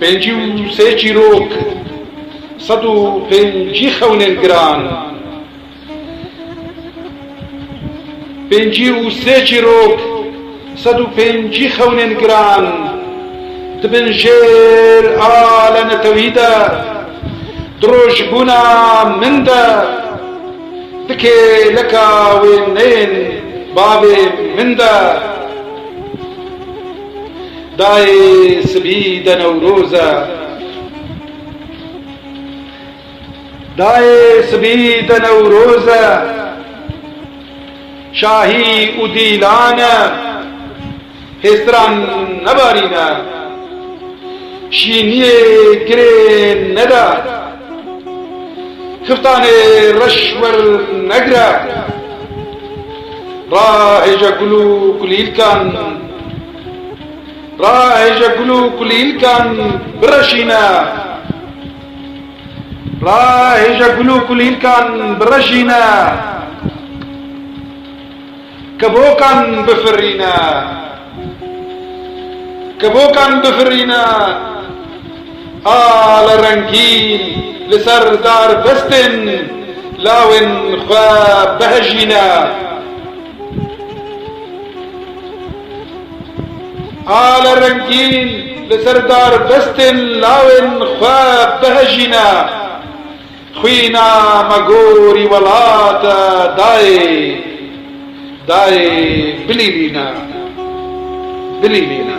Pêncî û sê çîrok, sed û pêncî xewnên giran. Pêncî û sê çîrok, sed û pêncî xewnên giran, dibin jêr a lenetewî de, di rojbûna min de, di kêleka wêneyên bavê min de. Dayê sibî de newroz e. Dayê sibî de newroz e. Şahî û dîlan e. Hêstiran nebarîne. Şîniyê kirê nede. Xiftanê reş wernegire. Rahêje gul û kulîlkan. Rahêje gul û kulîlkan bireşîne Rahêje gul û kulîlkan bireşîne Kibokan bifirîne Kibokan bifirîne Ala rengîn li ser darbestên lawên xwe bihejîne. Ala rengîn li ser darbestên lawên xwe bihejîne, xwîna me gorî welate dayê dayê bilîlîne, bilîlîne.